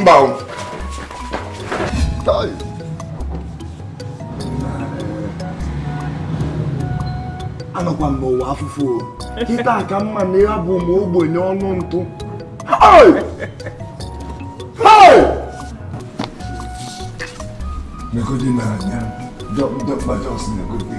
mba anọkwa m n'ụwa afụfụ kịta ka m ma na ya bụ ma ogbenye ọnụ ntụ negodi n'anya dọkpa just negodi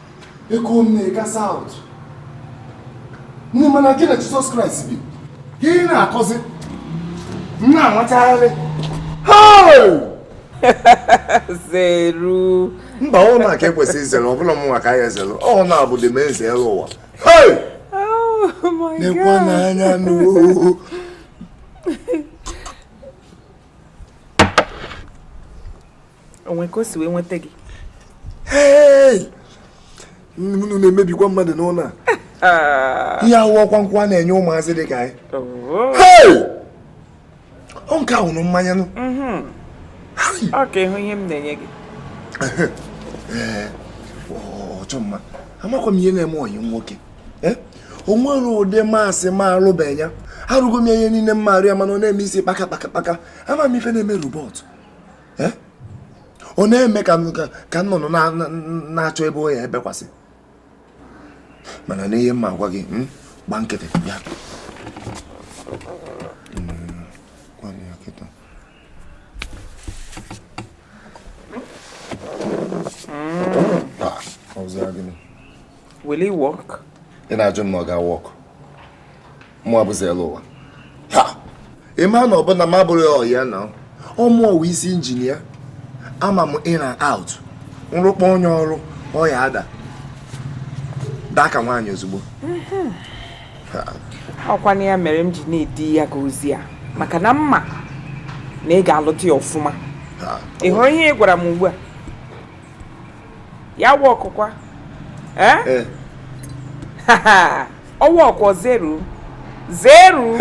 ego m na-ega saụt nne mana gị na Jesus Christ bi ka ị na-akọzi m na-anwachagharị zeru mba ọ na ka ekwesị izere ọ bụla mụnwa ka a ya-ezere ọ na-abụ the main Zeruwa nekwa oh n'anya n'oo o nwe ka o si wee nweta gị unu na-emebikwa mmadụ n'ụlọ a ah. ihe ahụ ọkwa nkwụ a na-enye ụmụazị dị ka anyị oh. ọ nke a wụ mmanya nụ mm-hmm. ọ ka ịhụ ihe m na-enye gị ọchọ mma amakwa m ihe na-eme ọyị nwoke eh? o nwere ụdị maasị m alụbeghị ya arụgo m ihe niile m ma arụ ya mana ọ na-eme isi kpaka kpaka kpaka ama m ife na-eme robot eh? ọ na-eme ka nnụnụ na-achọ ebe ọ ya-ebekwasị mana nee ihe m ma agwa gị hmm? gba nkịtị ya Will it work? Ị na-ajụ m na ọ ga-work. mụ bụ Zeruwa ị ma na ọ bụ na m abụrụ ya ọ ya na ọ mụ wụ isi engineer ama m in and out m rụkpọ onye ọrụ ọ ya-ada daa ka nwaanyị ozugbo mhm. ọkwa na ya mere m ji na-edi ya ga ozi a maka na m ma na ị ga-alụta ya ọfụma ị hụrụ ihe ị gwara m ugbu a ya wụ okwukwa ee eh? eh. ọ wụ okwu zeru zeru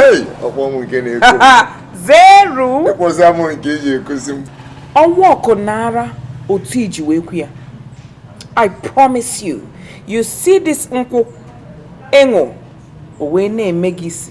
ọkwa m nke na-ekwu zeru ịkwụsị amụ nke eji ekuzi m ọ wụ okwu nara otu i ji wee kwu ya i promise you you see this nkwụ ị ṅụ o wee na-eme gị isi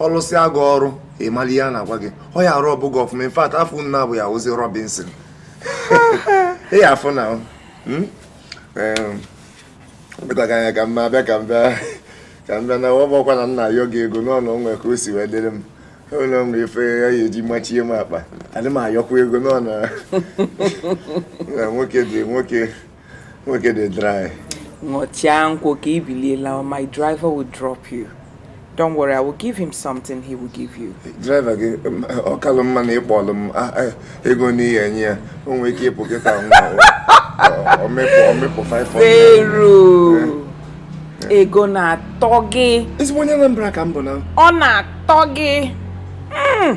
ọ lụsịa gị ọrụ ị mara ihe a na-agwa gị ọ ya-rub gị ọfụma in fact afa m na-abụ ya wụzi Robinson ị ya-afụ na hmm? bịtaga anya ka mma abịa ka m bịa ka m bịa na ọ bụkwa na m na-ayọ gị ego n'ọnụ o nwe ka o si wee dịrị m ụlọ m ife a ya-eji machie m akpa adị m ayọkwa ego n'ọnụ nwoke dị nwoke nwoke dị dry ṅụchaa nkwụ ka i bilie lawa my driver will drop you don't worry i will give him something he will give you driver gị ọ kalụ mma na ị kpọlụ m ah, eh, ego n'ihi e nye ya o nwere ike ịpụ kịta nwa ọ mịpụ 500 weru ego na-atọ gị ezigbo onye Anambra ka m bụ na ọ na-atọ gị Mm.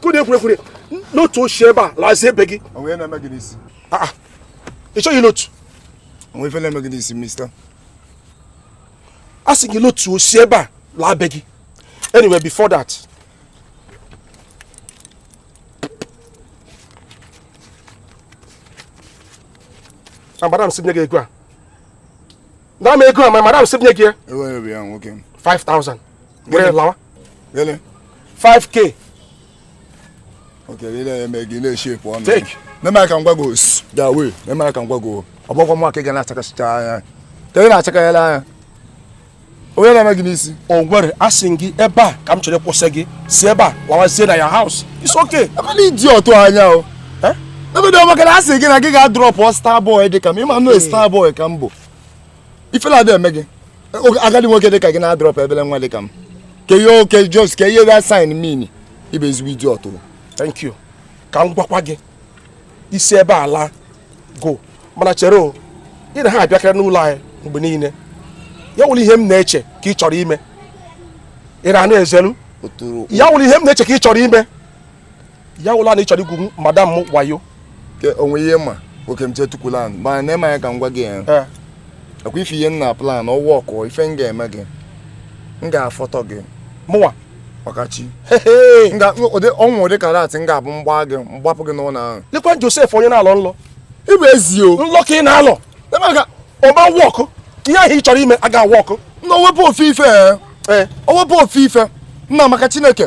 kwere kwere kwere lotu si ebe a lazie be gị ah, ah. ị chọghị lotu a sị gị lotu si ebe a laa be gị anyway before that madam sị m nye gị ego a nara m ego a my madam sị m nye gị ya Were were ya nwoke m. 5000 were lawa Gịnị? 5k Oke lele eme gị na-eshepu ọnụ. Take. Meme aka ngwa gị osu. Da wee. Meme aka ngwa gị o. Ọ bụkwa nwa ka ị ga na-achakasịcha anya. Ka ị na-achakayala anya. O nwe ihe na-eme gị n'isi? o nwere asị m gị ebe a ka m chere kwụsị gị si ebe a lawazie na your house it's okay Eh nee idiot a anya o. ebedo maka na a sị gị na gị ga-adrọpụ star boy dị ka m ị ma nụ star boy ka m bụ ifele adị eme gị agadi nwoke dị ka gị na-adrọpụ obele nwa dị ka m ke ihe oke just ke ihe ga sign mini ị bụ ezigbo idiot thank you ka m gwakwa gị si ebe a laa go mana chere o ị na ha abịakarị n'ụlọ anyị mgbe niile ya wụlụ ihe m na-eche ka ị chọrọ ime ị na-anụ ezelu ya wụlụ ihe m na-eche ka ị chọrọ ime ya wụlụ na ị chọrọ igwu madam m wayo o nwe ihe ma oke m chetukwula mana ị ma ya ka m gwa gị ya eh. ọ kwa ife ihe m na plan ọ wọkụ ife m ga-eme gị m ga-afọtọ gị mụnwa ọkachi ọnwụ ụdị karate m ga-abụ mgba gị mgbapụ gị n'ụlọ ahụ lekwa Joseph onye na-alọ nlọ ị bụ ezi o nlọ ka ị na-alọ ọ ma wọkụ ihe ahụ ị chọrọ ime a ga-awọkụ na owepụ ofu ife owepụ eh. eh. ofu ife nna maka Chineke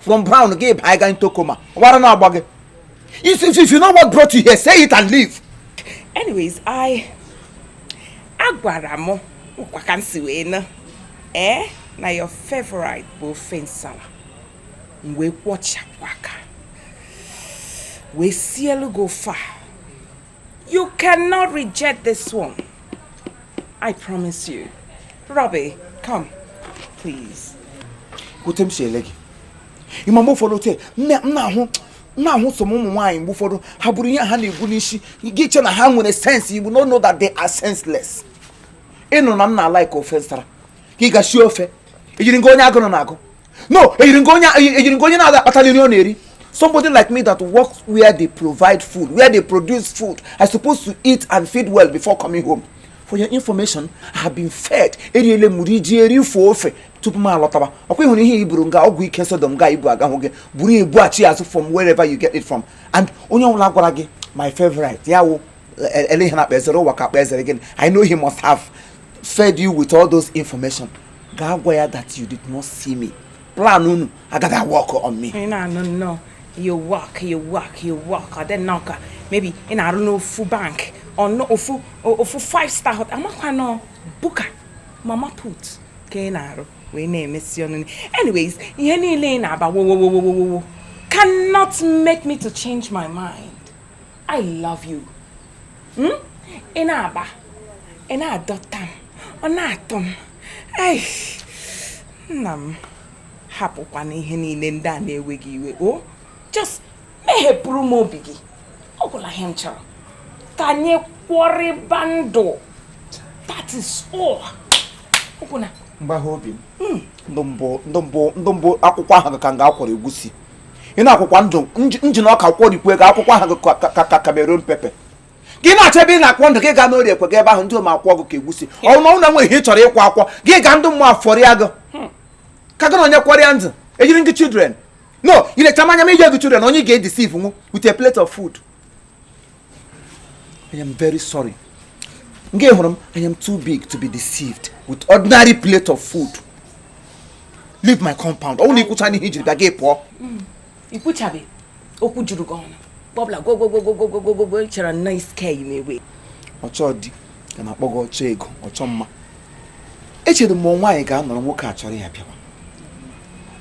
from brown gị baa ga into coma ọ wụ ara na-agba gị if if you know what brought you here say it and leave. anyways i agwara m nkwa ka m si wee na ee na your favorite bụ ofe nsala m wee kwọchapụ aka wee sielu gị ofe a You cannot reject this one. I promise you. Robbie, come, please. Gote m si ele gị. Ị ma mgbe ụfọdụ tee, m na-ahụ na-ahụ some ụmụ nwaanyị mgbe ụfọdụ ha buru ihe ha na-ebu n'isi gị chee na ha nwere sense you will not know that they are senseless. Ị nụ na m na-alike ofe nsala gị ga sie ofe ị jiri m ka onye agụrụ na-agụ no eyiri m gị onye na-ada akpatali nri ọ na-eri somebody like me that works where they provide food where they produce food i suppose to eat and feed well before coming home for your information i have been fed eriele m rijue rifọ ofe tupu m alọtaba ọkwa ịhụrụ ihe iburu nga ọgwụ ike sodom ga ibu agahụ gị buru ya bughachi azụ from wherever you get it from and onye ọbụla gwara gị my favorite ya wụ ele ihe a na-akpọ ezere ụwa ka akpọ ezere gịnị i know he must have fed you with all those information gaa gwa ya that you did not see me plan unu agaghị awọkụ on me ị na-anụ nnọọ you work you work you work ọ dị nnọọ ka maybe ị na-arụ n'ofu bank or n'ofu five star hotel amakwa na ọ buka mama put ka ị na-arụ wee na-emesi ọnụ anyways ihe niile ị na-aba wowowowowowo cannot make me to change my mind I love you. Hmm? Ị na-aba, ị na-adọta m, ọ na-atọ m. Ei, nna m hapụkwanụ ihe niile ndị a na-ewe gị iwe. O, just mehepụrụ m obi gị. Ọ gwụla ihe m chọrọ. Ka anyị kwọrịba ndụ. That is all. Ọ gwụla. mgbagha obi m ndụ mbụ akwụkwọ ahụ ka m ga-akwọrọ egwusi ị na-akwọkwa ndụ njin ọka kwọrikwe gị akwụkwọ ahụ ka Cameroon pepe gị na-achọ ebe ị na-akwọ ndụ gị gaa n'orie ekwe gaa ebe ahụ ndị mmụọ akwọọ gị ka egwusi ọ wụ na ọ wụ na o nwe ihe ị chọrọ ịkwọ akwọ gị gaa ndị mmụọ afọrịa gị hmm. ka gị na onye kwọrịa ndụ eyiri m gị children no ị lecha m anya m eyie gị children onye ị ga-edisiv nwu with a plate of food I am very sorry. Nga ị hụrụ m, I am too big to be deceived with ordinary plate of food. Leave my compound. Ọ bụrụ na ikwuchana ihe ijiri bịa gị pụọ. Mm. Ikwuchabe okwu juru gị ọnụ. Bọbla gwogwogwogwogwogwogwo nchara nna iske yi n'egbe. Ọchọ di ka a na-akpọ gị ọchọ ego, ọchọ mma. Echere m na nwaanyị ga-anọrọ nwoke achọrọ ya bịawa.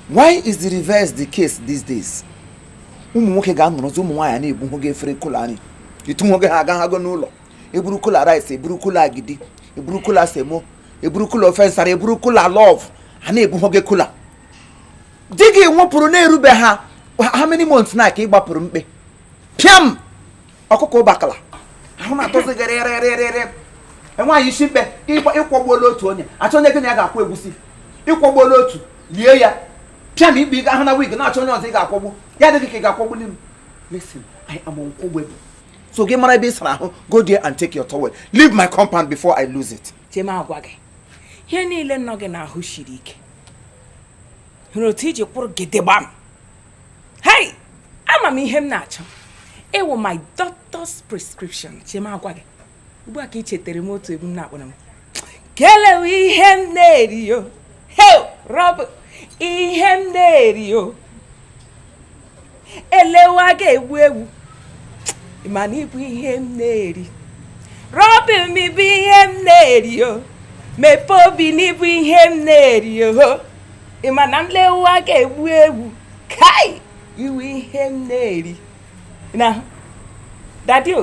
Why is the reverse the case these days? ụmụ nwoke ga-anọrọzi ụmụ nwaanyị na-ebuhu gị efere cooler nri ịtụ nwoke ha agaghị agụ n'ụlọ eburu cooler rice eburu cooler agidi eburu cooler semo eburu cooler ofe nsara eburu cooler love ha na-ebuhu gị cooler di gị nwụpụrụ na-erube ha how many months now ka ị gbapụrụ mkpe pịam ọkụkọ ụbakala ahụ na-atọzi gị rịrịrịrịrị nwaanyị isi mkpe ịkwọgbuola otu onye achọ onye gị na ya ga-akwọ egwusi ịkwọgbuola otu lie ya pịam ikpe ị ga-ahụ na wig na-achọ onye ọzọ ị ga-akwọgbu ya adị gị ka ị ga-akwọgbuli m listen I am unkwọgbable so gị mara ebe ị sara ahụ go there and take your towel leave my compound before I lose it chee m agwa gị ihe niile nọ gị n'ahụ siri ike hụrụ otu iji kwụrụ gidigbam hei ama m ihe m na-achọ ị wụ my doctor's prescription chee m agwa gị ugbu a ka ị chetere m otu egwu m na-akpọrọ m kele wụ ihe m na-eri yo hey rob ihe m na-eri yo elewa ga-egbu egbu ị ma na ị bụ ihe m na-eri robbie m ị bụ ihe m na-eri yo mepee obi na ị bụ ihe m na-eri yo ị ma na m lewa ga-egbu egbu kai ị wụ ihe m na-eri na dadio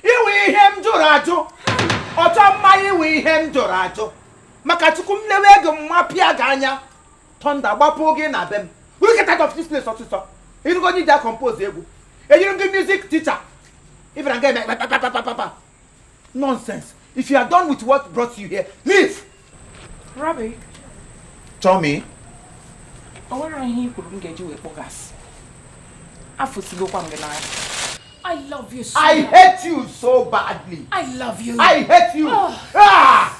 ị wụ ihe m jụrụ ajụ ọchọ mma ị wụ ihe m jụrụ ajụ maka chukwu m lewe gị mụwa pịa gị anya thunder gbapụ gị na be m we get out of this place ọsịsọ ịrụgo onye ji a-compose egwu eyiri m gị music teacher ị bịara nga eme kpakpakpakpakpa nonsense If you are done with what brought you here, leave! Robbie. Tell me. O nwere ihe i kwuru m ga-eji wee kpọ gị asị. Afụsigokwa m gị n'anya. I love you so I hate you so badly. I love you. I hate you. Oh. Ah!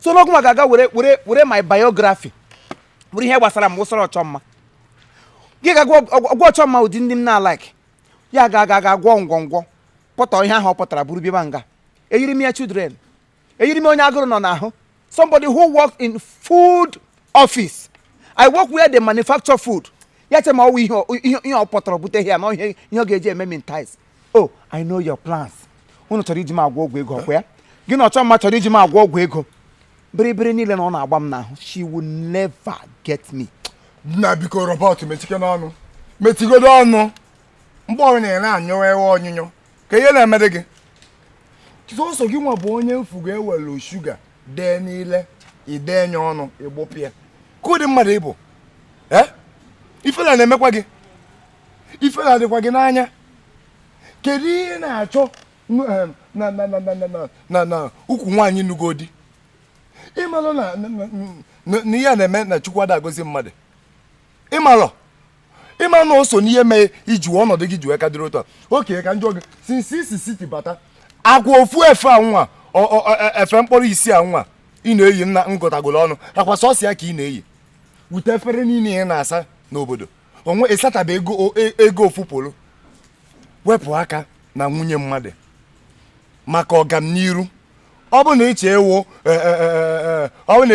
so n'ọkụ ma ga-aga were were were my biography buru ihe gbasara m wụsara ọchọ mma gị ga-agwa ọchọ mma ụdị ndị m na-alike ya ga aga aga gwọ ngwọngwọ pụta ihe ahụ ọ pụtara buru bịaba nga eyiri m ya children eyiri m onye agụrụ nọ n'ahụ somebody who worked in food office i work where they manufacture food ya che ma ọ wụ ihe ọ- ihe ihe ọ pụtara bute here na ihe ihe ọ ga-eji eme m entice oh i know your plans unu chọrọ iji m agwọ ọgwụ ego ọ kwa ya gị na ọchọ mma chọrọ iji m agwọ ọgwụ ego bịrịbịrị niile na ọ na-agba m n'ahụ she will never get me nna biko robot mechikene ọnụ mechigodo ọnụ mgbe ọrụ na-ere anyụwa ewe onyụnyụ ka ihe na-emere gị sọsọ gị nwa bụ onye m fụ ga-ewelu sugar dee n'ile i denye ọnụ ị gbụpụ ya kee ụdị mmadụ ị bụ ee ifele ana-emekwa gị ifele adịkwa gị n'anya kedu ihe ị na-achọ na ukwu nwaanyị nụgo di ị malụ na ihe na-eme na chukwu ada agọzi mmadụ ị malụ ị ma na o so n'ihe mee iji ọnọdụ gị ji wee ka dịrị otu a oke ka njọ gị since i si city bata akwa ofu efe a nwa e, efe mkpọrọ isi a nwa ị na-eyi nna ngọtagolo ọnụ akwa sọsọ ya ka ị na-eyi with efere niile ị na-asa n'obodo o nwe ị sataba e ego e, ego ofu polo wepụ aka na nwunye mmadụ maka ọganiru ọ bụ na ị chọọ ịwụ e, e, e, ọ bụ na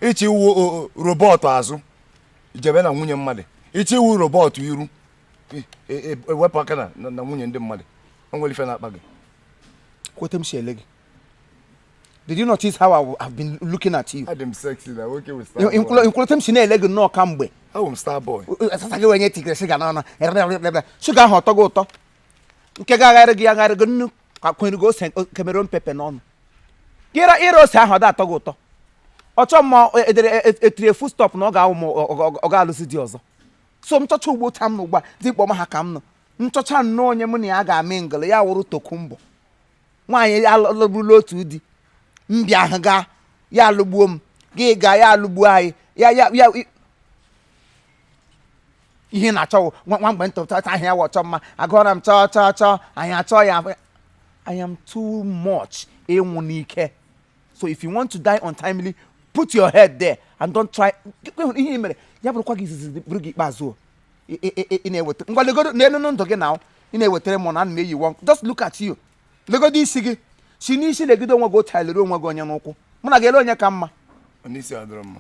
ị chọọ ịwụ robot azụ jebe na nwunye mmadụ ị chọọ ịwụ robot iru wepụ aka na nwunye ndị mmadụ o nwere ife na-akpa gị kwa etu m si ele gị Did you notice how I have been looking at you? Adị m sexy na nwoke with star boy. Nkwụlọtọ m si na-ele gị nnọọ kamgbe. Awụ m star boy. Asasa gị wenye tigre sugar n'ọnụ. Sugar ahụ ọ tọọ gị ụtọ. Nke ga-agharị gị agharị gị nnu ka kwere gị ose Cameroon pepper n'ọnụ. Gị ịra ose ahụ ọ dị atọ gị ụtọ. Ọchọ mma etiri full stop na ọ ga-awụ m ọ ga-alụzi di ọzọ. So m chọcha ugbo tam na ugbu a dị kpọma ha ka m nọ. M chọcha nnọọ onye mụ na ya ga-amị ngịlị ya wụrụ tokumbo. nwaanyị alụburula otu di mbụ ahụ gaa ya alụgbuo m gị gaa ya alụgbuo anyị ya ya ya ihe na-achọ nwa mgbe ntụta ahụ ya wụ ọchọ mma agụọra m chọọ chọọ chọọ anyị achọọ ya I am too much ịnwụ n'ike so if you want to die untimely put your head there and don't try ihe mere ya bụrụkwa gị izizi bụrụ gị ikpeazụ ị na-eweta ngwa legodo n'elu ndụ gị na ị na-ewetara m na ana m eyi nwa just look at you legodo isi gị si n'isi legide onwe gị otu a lere onwe gị onye n'ụkwụ mụ na gị ele onye ka mma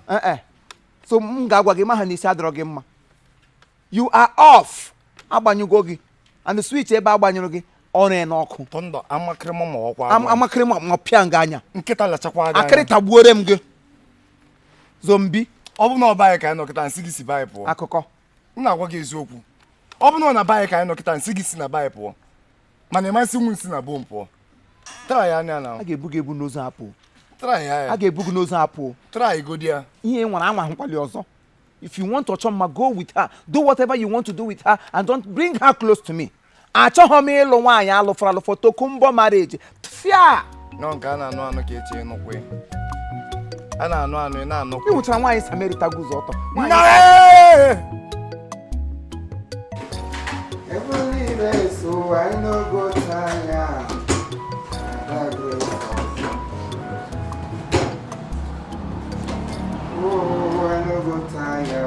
eh, eh. so m ga-agwa gị ma ha na isi adịrọ gị mma you are off a gbanyụgo gị and switch ebe a gbanyụrụ gị o ree n'ọkụ amakịrịma ma ọkwa amakịrịma ma pịa gị anya nkịta lachakwa anya akịrị tagbuore m gị zombi ọ bụ na ọ be gị ka anyị nọ kịta m sị gị si be gị pụọ akụkọ m na-agwa gị eziokwu ọ bụ na ọ na be gị ka anyị nọ kịta m sị gị si na be gị pụọ mana ị ma sịnwu m si na be m pụọ try ya anya na a ga-ebu gị ebu n'ozu apụ try ya a ga-ebu gị n'ozu apụ try godi ya ihe ị nwara anwa ahụkwali ọzọ if you want ọchọ mma go with her do whatever you want to do with her and don't bring her close to me achọghị m ịlụ nwaanyị alụfọrọ alụfọ tokumbo marriage tfia nọ nke a na-anụ anụ ka eche ịnụkwa ya. a na-anụ anụ ị na-anụkwa ị hụchara nwaanyị samerita guzo ọtọ Nwaanyị- Oh, I no go tire.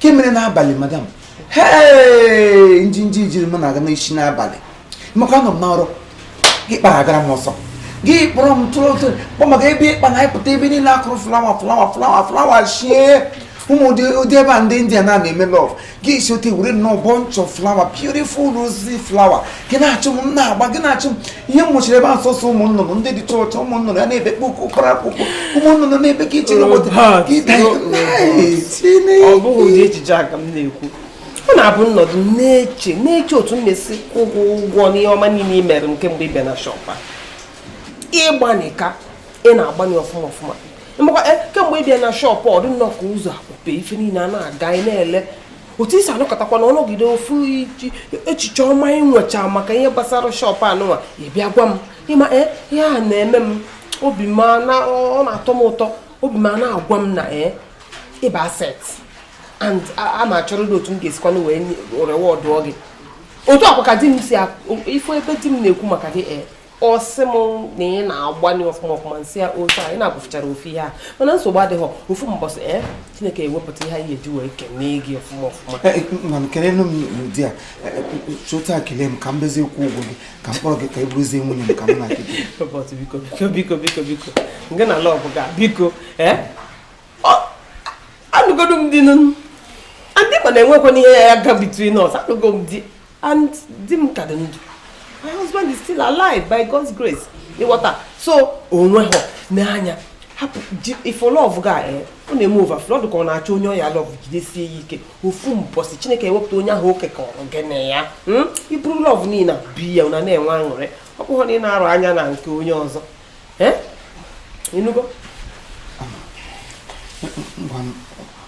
ke mere n'abalị madam hee njinji jiri m na-aga n'isi n'abalị maka anọ m n'ọrụ gị kpara agara m ọsọ gị kpọrọ m tụrụ otu kpọ maka ebe ịkpa na ịpụta ebe niile a kụrụ flawa flawa flawa flawa shie ị ma ụdị ebe a ndị India na na-eme love gị si otu a were nnọọ bunch of flower beautiful rosy flower gị na-achụ m na-agba gị na-achụ m ihe wụchiri ebe a sọsọ ụmụ nnụnụ ndị dị chọọchọ ụmụ nnụnụ ya na-ebe kpụkụ kpara akwụkwọ ụmụ nnụnụ na-ebe ka iche n'obodo ka ịda ọ bụghị ụdị echiche a ka m na-ekwu ọ na-abụ m nọdụ na-eche na-eche otu m na-esi kwụ gị ụgwọ n'ihe ọma niile i mere m kemgbe ị bịa na shọpụ a ịgbanị ka ị na-agbanị ọfụma ọfụma mgbakwa eh, kemgbe ị bịa na shọpụ ọ dị nnọọ ka ụzọ akpọpe ife niile a na-aga ị na-ele otu i si anọkatakwa na ọnọgide ofu echiche ọma ị nwecha maka ihe gbasara shọpụ anụnwa ị bịa gwa m ị ma ee eh, ihe a na-eme m obi m ọ na-atọ m ụtọ obi m na-agwa m na ee eh, ị bụ asset and a ma achọrọ dị otu m ga-esikwanụ wee rewọdụọ gị otu a kwa ka di m si ife ebe di m na-ekwu maka gị ee eh, ọ sị m na ị na-agbanye ọfụma ọfụma m sị ya otu a ị na-agụfụchara ofu ihe a mana nsogbu adịghị ofu mbọsị ee eh, chineke ewepụta ihe anyị eji wee kenee gị ọfụma ọfụma eh, eh, mana kelenu m n'ụdị a chota kelee m ka m bezie kwụọ ụgwọ gị ka m kpọrọ gị ka ị bụrụzie nwunye m ka m na-adị gị biko biko biko biko biko nke na lọv ga biko ee anụgodo m di nụ and ị ma na enwekwana ihe ya-aga between us anụgo m di and di m ka dị ndụ my husband is still alive by God's grace ị ghọta so onwe ha n'anya hapụ ife lọv ga eh, ọ na-eme overflow ọ dị ka ọ na-achọ onye ọ ya-alọv jidesie ya ike ofu mbọsị chineke ewepụta onye ahụ o kekọrọ gị na ya hmm? i buru lọv niile bi ya na na-enwe aṅụrị ọ bụghị na ị na-arọ anya na nke onye ọzọ eh? ị nụgo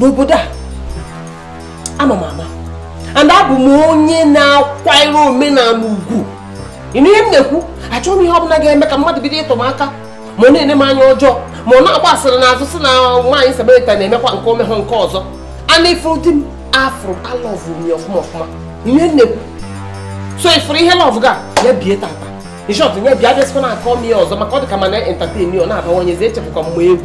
n'obodo a a ma m ama and abụ m onye na-akwanyere omenala ugwu ị nụ ihe m na-ekwu achọghị m ihe ọbụla ga-eme ka mmadụ bido ịtụ m aka ma ọ na-ene m anya ọjọọ ma ọ na-agba asịrị n'azụ si na nwaanyị samarita na-emekwa nke omehụ nke ọzọ and ị fụrụ di m afụrụ alọvụ m ya ọfụma ọfụma ị nụ ihe m na-ekwu so ị fụrụ ihe lọvụ ga ya bie tata in short ya bie bịazikwana akọ m ya ọzọ maka ọ dị ka m na-entertain ọ na-abawanyezi echebukwa m ọ bụ egwu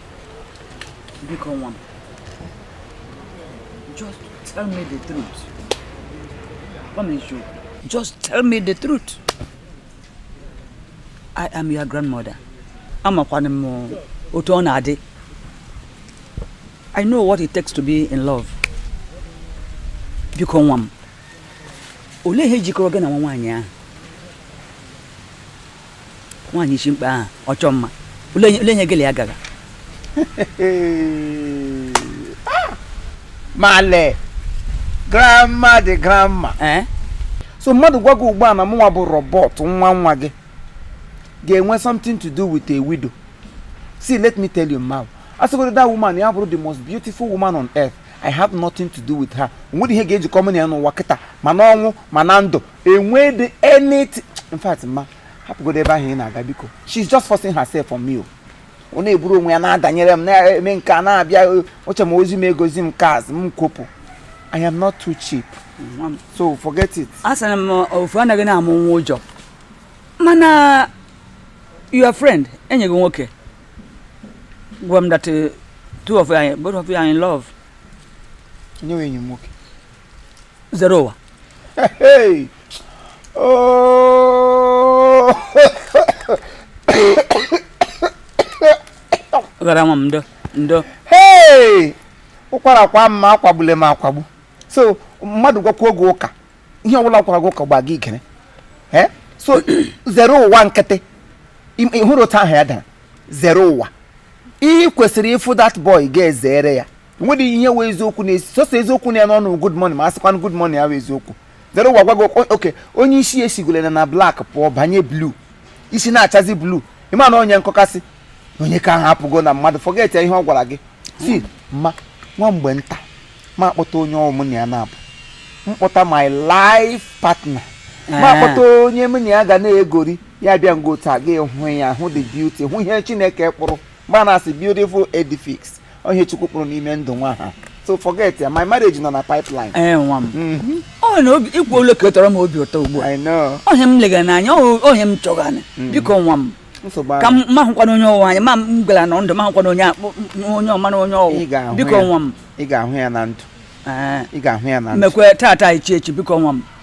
biko nwa m just tell me the truth gwa m eziokwu just tell me the truth i am your grandmother amakwanụ m otu ọ na-adị i know what it takes to be in love biko nwa m olee ihe jikọrọ gị na nwa nwaanyị ahụ nwaanyị ishi mkpe ahụ ọ chọọ mma ole enyi gị lị ya gara ah! male grandma the grandma eh? so mmadụ gwa gị ugbu a na mụnwa bụ Robert nwa nwa gị ga-enwe something to do with a widow see let me tell you now a sịgodo that woman ya bụrụ the most beautiful woman on earth i have nothing to do with her o nwerọ ihe ga-ejikọ mụ na ya n'ụwa kịta ma n'ọnwụ ma na ndụ enwedị anything in fact ma hapụgodo ebe ahụ ị na-aga biko she's just forcing herself on me o ọ na-eburu onwe ya na-adanyere m na-eme nke a na-abịa oche m ozi m egozi m kaz m kwopụ i am not too cheap so forget it a sịrị m ofu anaghị na-amụ nwa ụjọ mana your friend enyi gị nwoke gwa m that uh, two of anyị both of you are in love onye wụ enyi m nwoke Zereụwa oh. gara nwa m ndo ndo ụkwara kwaa m ma akwagbule m akwagbu so mmadụ gwakwa gị ụka ihe ọbụla gwara gị ụka gba gị ikere so Zereụwa nkịtị ị hụrụ otu aha ya dara Zereụwa ị kwesịrị ịfụ that boy ga-ezere ya nwedị ihe wụ eziokwu na-esi sọsọ eziokwu nọ ya n'ọnụ good morning ma asịkwanụ good morning ya wụ eziokwu Zereụwa gwa gị ụka onye isi ya sigolana na black pụọ banye blue isi na-achazi blue ị ma na onye nkọkasị onye ka ahụ apụgo na mmadụ forget ihe ọ gwara gị si ma nwa mgbe nta ma akpọta onye mụ na ya na-abụ m kpọta my life partner ma akpọta onye m na ya ga na-egori ya bịa ngo taa gị hụ ya hụ the beauty hụ ihe chineke kpụrụ mgbe a na-asị beautiful edifice onye chukwu kpụrụ n'ime ndụ nwa ahụ so forget ya my marriage nọ na pipeline ee eh, nwa m mhm. ọ na obi ikwu olu ka tọrọ m obi ụtọ ugbu a ohe m lega n'anya ohe m chọgana mhm. biko nwa m ka m ahụkwanụ onye ọ wụ anya ma m gwara na ndụ m ahụkwanụ onye onye ọma na onye ọ wụ biko nwa m ị ga-ahụ ya na ndụ eh. ị ga-ahụ ya na ndụ mekwaa taa taa echi echi biko nwa m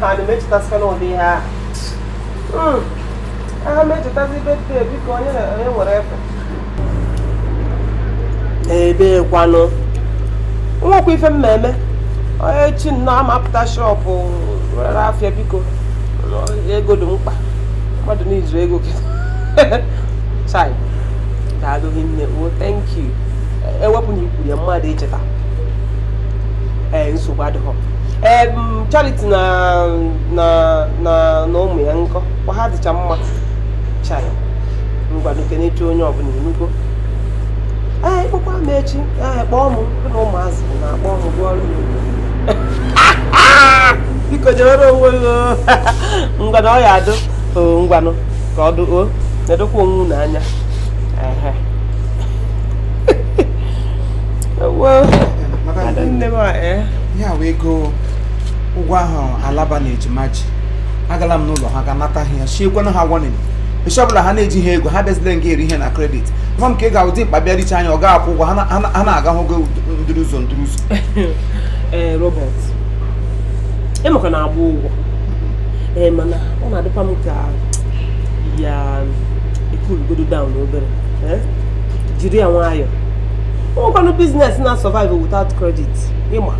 ha na emechetasịkwana ụdị ihe ahụ aha m echetazi birthday biko onye nwere efe ebekwanụ nwekwa ife m na-eme onye chi nnọọ amapụta shop rere afịa biko ego dị mkpa mmadụ n'izu ego chai daalụ nne o oh, thank you e wepụ na i kwuru ya mmadụ icheta ee nsogbu adịghọ ee Charity na na na na ụmụ ya nko kwa ha dịcha mma chai ngwanụ kenechaa onye ọbụla ị nụgo ee kpọkwa m echi ee kpọọ m na ụmụazị na-akpọ m gụọ ọrụ biko jewere onwe gị ngwanụ ọ ya adụ ngwanụ ka ọ dụ o nedokwa onwe unu anya nne m a ee ihe a wụ ego ụgwọ ahụ alaba na ejima ji agala m n'ụlọ ha ga nata ha ya chiekwana ha warning echi ọbụla ha na-ejiha ego ha bịazile nga eri ihe na credit nwa m ka ị ga dimkpa bịa richa anya ọ ga-akwụ ụgwọ ha na- ha na- ha na-aga hụ gị ndịrị ụzọ ndịrị ụzọ ee robert emeka na-agba ụgwọ ee mana ọ na-adịkwa m ka ya ekulugodo down obere eh? jiri ya nwayọọ o nwekwanụ biznes na-survive without credit ịma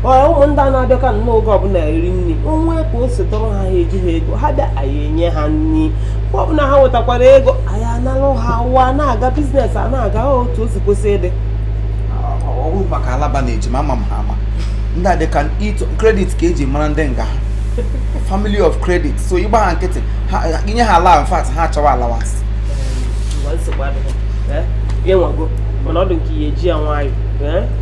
ọya ụmụ ndị a na-abịaka nnọọ oge ọbụla eri nri o nwee ka o si tọrọ ha ha ejiha ego ha bịa anyị enye ha nri mgbe ọbụla ha nwetakwara ego anyị analụ ha ụwa na-aga biznes a na-aga otu o si kwesị ịdị ọ wụ maka alaba na ejima ama m ha ama ndị a dịka ịtụ credit ka eji mara ndị nga ha family of credit so ị gbaa ha nkịtị ha i nye ha ala in fact ha achọwa allowance mgbe nsogbu adịghị ya nwago mana ọ dị nke ya eji ya nwayọ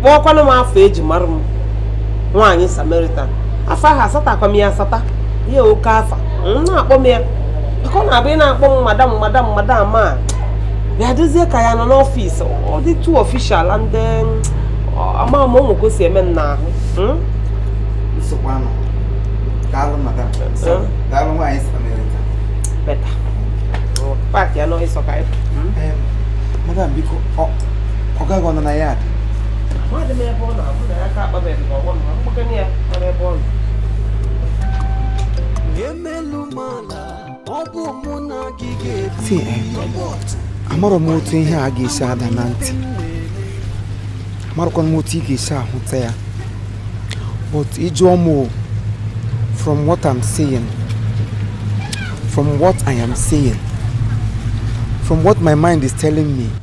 kpọọkwanụ m afa eji mara m nwaanyị Samaritan afa ahụ asatakwa m ya asata ya oke afa na-akpọ m ya maka ọ na-abụ ị na-akpọ m madam madam madam abịa dịzie ka anyị nọ n'ọfịs ọ dị too official and ama m o nwe ka o si eme m n'ahụ hmm? nsogbu daalụ madam daalụ nwaanyị Samaritan better paaki ya n'ọhịsọ ka ya madam biko ọga gị ọ nọ na ya dị Mmadụ m ebe ọ na-abụ na ya ka akpabeghị m ọgwọ m ma mgbakana ya mara ebe ọ nọ. si amarọ m otu ihe a ga-esi ada na ntị amarọkwa m otu ị ga-esi ahụta ya but ị jụọ m o, from what I'm saying from what I am saying from what my mind is telling me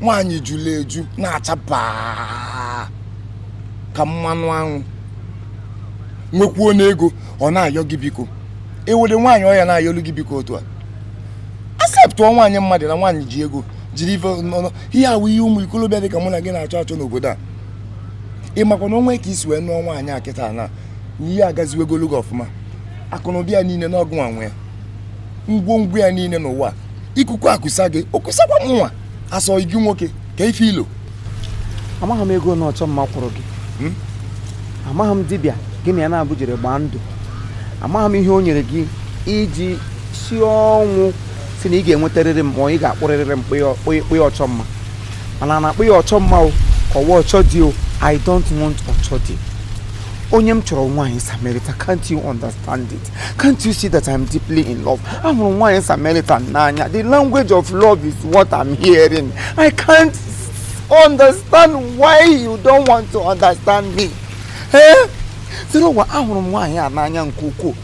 nwaanyị jụrụ eju na-acha baa ka mmanụ anwụ nwekwuo n'ego ọ na-ayọ gị biko i were nwaanyị ọ ya na-ayọlu gị biko otu a aseptụọ nwaanyị mmadụ na nwaanyị ji ego jiri ife ọnụ ihe a wụ ihe ụmụ ikolobịa dị ka mụ na gị na-achọ achọ n'obodo a ị makwa na o nwee ka i si wee nụọ nwaanyị a kịta na ihe agaziwegolu gị ọfụma akụnụba ya niile na ọ gịnwa nwe ya ngwongwo ya niile n'ụwa ikuku akusa gị o kusakwa mụnwa asị gị nwoke ka ife ilo amaghị m ego na Ọchọmma kwụrụ gị hmm? amaghị m dibịa gị na ya naabọ jere gbaa ndụ amaghị m ihe o nyere gị i ji sie ọnwụ sị na ị ga-enwetarịrị m ma ị ga-akpụrịrịrị m kpụya Ọchọmma mana a na-akpọ ya Ọchọmma ọ kwa Ọchọdi o i don't want Ọchọdi onye m chọrọ nwaanyị Samaritan can't you understand it Can't you see that I'm deeply in love? Ahụrụ m nwaanyị Samaritan n'anya. The language of love is what I'm hearing. I can't understand why you don't want to understand me. Eh? Zeruwa ahụrụ m nwaanyị a n'anya nke ukwuu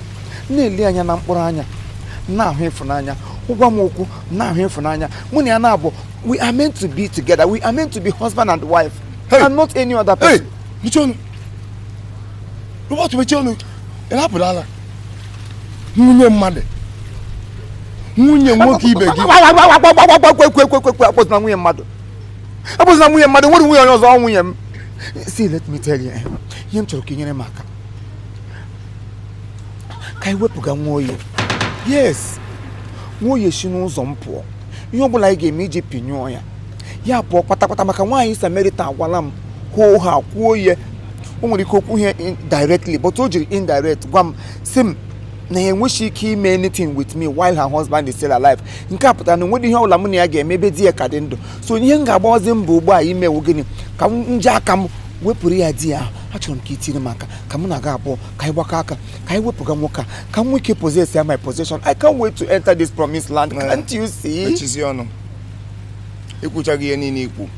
na-ele anya na mkpụrụ anya na-ahụ ịfụnanya ọ gwa m okwu na-ahụ ịfụnanya mụ na ya na-abụ we are meant to be together we are meant to be husband and wife hey. and not any other person. Hey, mechie ọnụ, Robert mechie ọnụ. ịrapụrụ ala nwunye mmadụ nwunye nwoke ibe gị akpọzina nwunye mmadụ akpọzina nwunye mmadụ nwere nwunye onye ọzọ nwunye m see let me tell you eh, ihe m chọrọ ka i nyere m aka ka anyị wepụga Nwoye yes Nwoye si n'ụzọ m pụọ ihe ọ bụla anyị ga-eme iji pinyụọ ya ya pụọ kpatakpata maka nwaanyị Samaritan agwala m kwuo ha kwuo ihe o nwere ike o kwughị ya directly but o jiri indirect gwa m sị m na ya enweghị ike ime anything with me while her husband is still alive nke a pụtara na o nweghị ihe ọbụla mụ na ya ga-eme ebe di ya ka dị ndụ so ihe m ga-agbawazi mbọ ugbu a ime wụ gịnị ka m ji aka m wepụrụ ya di ya ahụ achọrọ m ka i tiri m aka ka mụ na gị abụọ ka anyị gbakọ aka ka anyị wepụga nwoke a ka m nwee ike possess ya my possession i can't wait to enter this promised land can't you see mechizie ọnụ i kwuchago ihe niile i kwu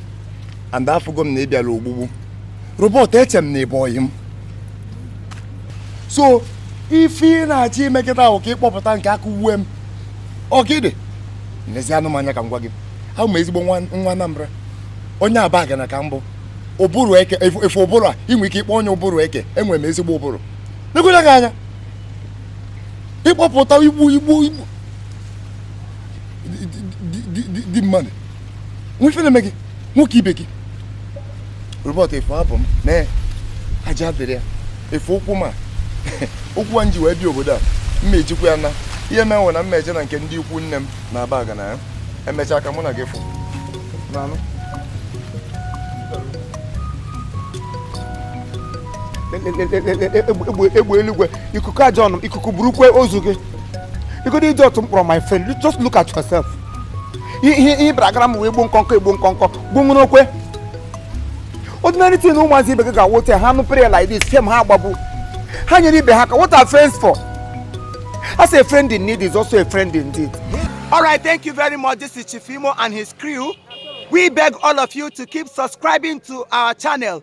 and afụgo m na ị bịara ogbugbu Robert eche m na ị bụ ọyị m so ife ị na-achọ ime kịta wụ ka ị kpọpụta nke aka uwe m ọgịdị n'ezi anụmanya ka m gwa gị awụ m ezigbo nwa Anambra onye Abagana ka m bụ ụbụrụ eke ị fụ ụbụrụ a i nwe ike ịkpọ onye ụbụrụ eke enwere m ezigbo ụbụrụ nekwere gị anya ịkpọpụta igbu igbu igbu di mmadụ o nwe ife na-eme gị nwoke ibe gị Robert ị fụ abụ m mee aja dịrị ya ị fụ ụkwụ m a ụkwụ a m ji wee bịa obodo a m ma ejikwa ya naa ihe mee m wee naa m ma eje na nke ndị ikwu nne m na Abagana ya emechaa ka mụ na gị fụ egbe eluigwe ikuku aja ọnụ ikuku burukwe ozu gị igodo iji otu mkpọrọ my friend just look at yourself ihe ihe bịara gara m wee gbuo nkọnkọ egbuo nkọnkọ gbuo nwere okwe ordinary thing na ụmụazị ibe gị ga-awote ha nụ prayer like this fiam ha agbagbu ha nyere ibe ha aka what are friends for as a friend in need is also a friend indeed all right thank you very much this is Chief Imo and his crew we beg all of you to keep subscribing to our channel